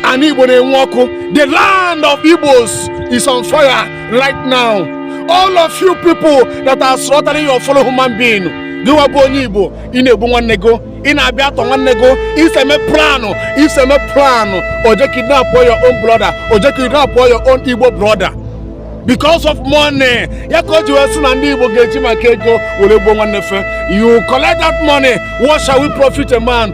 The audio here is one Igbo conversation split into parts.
anị Igbo na-enwu ọkụ the land of Igbos is on fire right now all of you people that are slaughtering your fellow human being gịwa bụ onye Igbo ị na-egbu nwanne gị ị na-abịa atọ nwanne gị i so eme planụ i so eme planụ oje kidnap your own brother oje kidnap your own Igbo brother because of money ya ka o ji wee sị na ndị Igbo ga-eji maka ego were gbuo nwanne fe you collect that money what shall we profit a man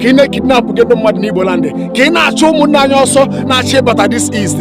ka ị na-ekidnapụ gị ndị mmadụ n'Igbo land ka ị na-achụ ụmụnne anyị ọsọ na-achọ ịbata this is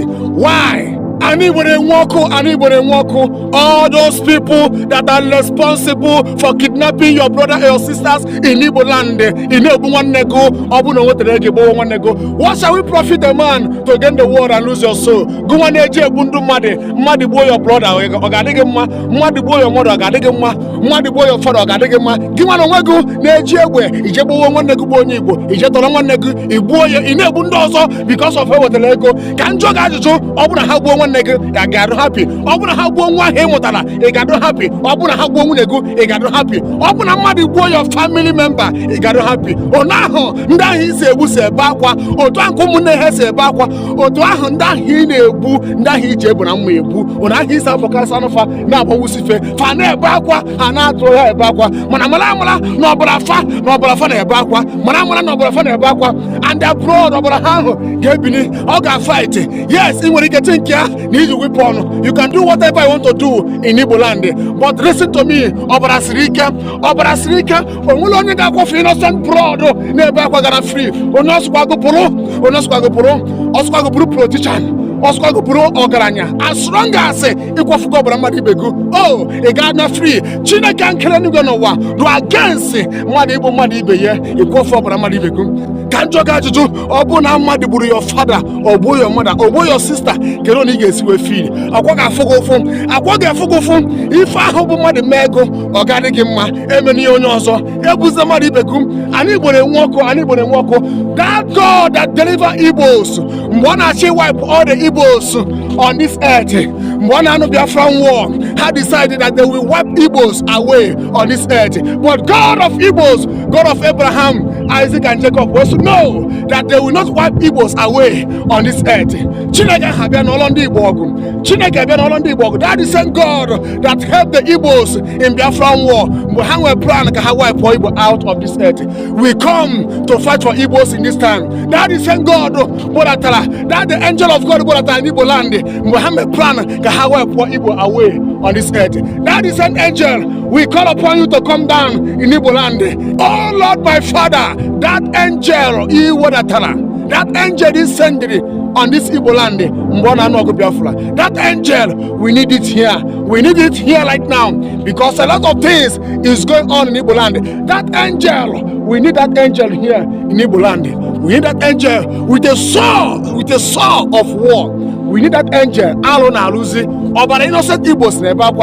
why anị Igbo na-enwu ọkụ anị Igbo na-enwu ọkụ all those people that are responsible for kidnapping your brother and your sisters in Igbo land ị na-egbu nwanne gị ọ bụrụ na o nwetara ego gbuo nwanne gị what shall we profit a man to gain the world and lose your soul gị nwa na-eje egbu ndị mmadụ mmadụ gbuo your brother ọ ga-adị gị mma mmadụ gbuo your mother ọ ga-adị gị mma mmadụ gbuo your father ọ ga-adị gị mma gị nwa na onwe gị na-eji egbe i je gbuwe nwanne gị bụ onye igbo i je tọrọ nwanne gị i gbuo ya ị na-egbu ndị ọzọ because of e wetara ego ka m jụọ gị ajụjụ ọ bụrụ na ha gbuo nwanne gị ị ga-adụ happy ọ bụrụ na ha gbuo nwa ahụ ị mụtara ị ga-adụ happy ọ bụrụ na ha gbuo nwunye gị ị ga-adụ happy ọ bụrụ na mmadụ gbuo your family member ị ga-adụ happy onu ahụ ndị ahụ i si egbu si ebe akwa otu ahụ ka ụmụnne ha si ebe akwa otu ahụ ndị ahụ ị na-egbu ndị ahụ i ji egbe na mma egbu onu ahụ i si afọkasị anụ fa na-agbawusi fe fa na-ebe akwa a na-atọrọ ha ebe akwa mana mara amara na ọbara fa na ọbara fa na-ebe akwa mara amara na ọbara fa na-ebe akwa and the blood ọbara ha ahụ ga-ebini ọ ga-fight yes ị nwere ike ti nke a na i ji weapon you can do whatever you want to do in Igbo land but listen to me ọbara siri ike ọbara siri ike o nwerọ onye ga-akwafu innocent blood na-ebe akwa gara free onye ọ sọkwa gị bụrụ onye ọ sọkwa gị bụrụ ọ sọkwa gị bụrụ politician ọ sọkwa gị bụrụ ọgaranya as long as ị kwafugo ọbara mmadụ ibe gị o ị ga-ana free chineke nke kere eluigwe na ụwa dụ against mmadụ igbu mmadụ ibe ya ịkwafu ọbara mmadụ ibe gị ka m jụọ gị ajụjụ ọ bụ na mmadụ gburu your father o gbuo your mother o gbuo your sister kedu onu ị ga-esi wee feel ọ kwa ọ ga-afụ gị ụfụ ọ kwa ọ ga-afụ gị ụfụ ife ahụ bụ mmadụ mee gị ọ ga-adị gị mma emena ihe onye ọzọ egbuzi mmadụ ibe gị anị Igbo na-enwu ọkụ anị Igbo na-enwu ọkụ that God that deliver Igbos mgbe a na-achọ iwipe all the Igbos on this earth mgbe a na-anụ Biafran war ha decided that they will wipe Igbos away on this earth but God of Igbos God of Abraham Isaac and Jacob wee sị no that they will not wipe Igbos away on this earth Chineke ahụ bịa nụọlọ ndị Igbo ọgụ Chineke bịa nụọlọ ndị Igbo ọgụ that is the same God that helped the Igbos in Biafran war mgbe ha nwere plan ka ha wipe Igbo out of this earth we come to fight for Igbos in this time. That is saying God Bolatala, that the angel of God Bolatala in Igbo land, Muhammad plan ka ha wee pụọ Igbo away on this earth. That is an angel. We call upon you to come down in Igbo land. Oh Lord my Father, that angel Iwodatala, that angel is sending on this Igbo land mgbe ọ na-anụ ọgụ Biafra that angel we need it here we need it here right now because a lot of things is going on in Igbo land. That angel, we need that angel here in Igbo land. We need that angel with a sword, with a sword of war. We need that angel. Alụ na-alụzi ọbara innocent Igbos na-ebe akwa.